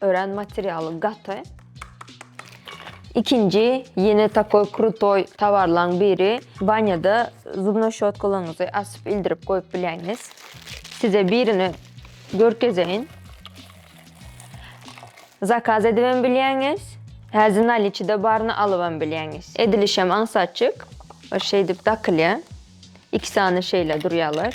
Örän materialy gaty. Ikinji ýene takoý krutoý towarlaň biri. Banýada zubnoý şotkalaryňyzy açyp ildirip goýup bilýäňiz. Size birini görkezeýin. Zakaz edibem bilýäňiz. Häzir naliçide baryny alybam bilýäňiz. Edilişem aňsatjyk. Şeýdip dakylýar. Iki sany şeýle durýarlar.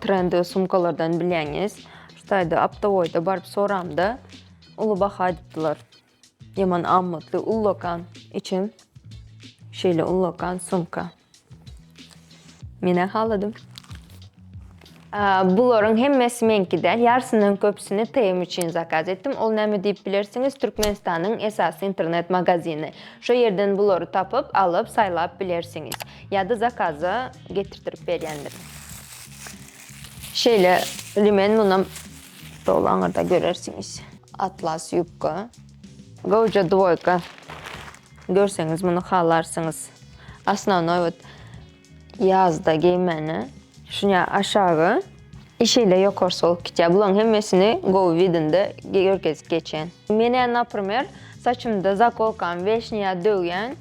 Trendi sumkalardan bilýäňiz. Şutaýda aptowoýda baryp soramda uly baha aýdypdylar. Ýaman amatly ullakan içim. Şeýle ullakan sumka. Menä haladym. Bularyň hemmesi meňki däl, ýarysyndan köpüsini TM üçin zakaz etdim. Ol näme diýip bilersiňiz, Türkmenistanyň esasy internet magazini. Şo ýerden bulary tapyp, alyp, saýlap bilersiňiz. Ýa-da zakaza getirtirip berýändir. Şeýle limen munam doly aňyrda görersiňiz. Atlas ýubka. Gowja dwoýka. Görseňiz muny halarsyňyz. Osnovnoý вот ýazda geýmäne. Şuňa aşagy i şeýle ýokarsy bolup gitýär. Bularyň hemmesini gowy widinde görkezip geçen. Menä naprimer saçymda zakolkam weşniýa döwýän.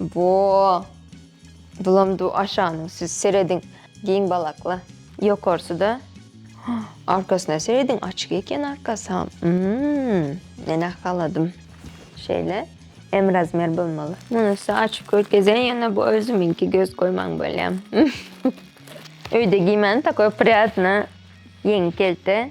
Bo. Bulam du aşanyň siz serediň giň balakly. Ýokarsyda arkasyna serediň açyk eken arkasam. Mmm. Menä haladym. Şeýle M razmer bolmaly. Munusy açyk görkezýän ýöne bu özümiňki göz goýmaň bolýam. Öýde giýmäni takoý prýadna ýeňi kelte.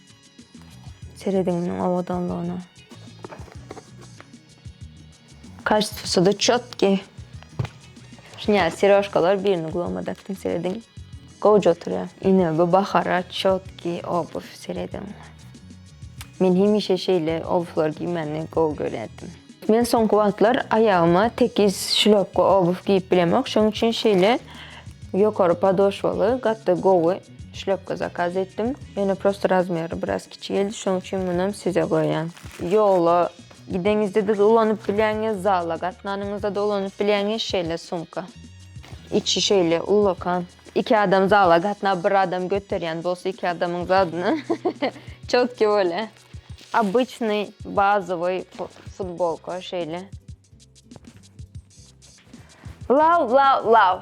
Serediň munuň owadanlygyna. Kaştwsy-da çotki. Şuny seriožkalar birini gloma dakdym serediň. Gowja oturýar. Ine bu bahara çotki obuw serediň. Men hemişe şeýle obwlar giýmäni gowy görýärdim. Men soňky wagtlar aýagyma tekiz şlopka obuw giýip bilemok, şoň üçin şeýle ýokary podoşwaly gaty gowy. Şlýopka zakaz etdim. Ýöne prosta razmeri biraz kiçi geldi, şonuň üçin munam size goýýan. Ýola gideňizde-de ulanyp bilýäňiz, zala gatnanyňyzda-da ulanyp bilýäňiz şeýle sumka. Içi şeýle ullakan. Iki adam zala gatnap, bir adam göterýän bolsa iki adamyň zadyny çotki bolýa. Obyçnyý bazowyý futbolka şeýle. Law law law.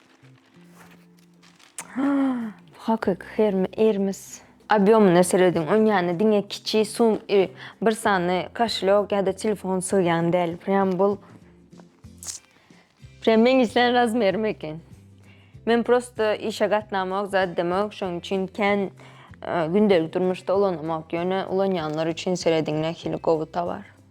Hakyky hermi ermis. Obýomyna serediň, oň ýany diňe kiçi sum i bir sany kaşelok ýa-da telefon sygýan däl. Prýam bul prýam meň islän razmerim eken. Men prosta işe gatnamok, zat demok, şoň üçin kän gündelik durmuşda ulanamok, ýöne ulanýanlar üçin serediň nähili gowy towar.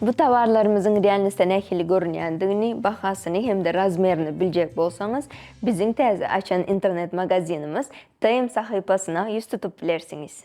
Bu towarlarymyzyň realisde nähili görünýändigini, bahasyny hem-de razmerini biljek bolsaňyz, biziň täze açan internet-magazinimiz TM sahypasyna ýüz tutup bilersiňiz.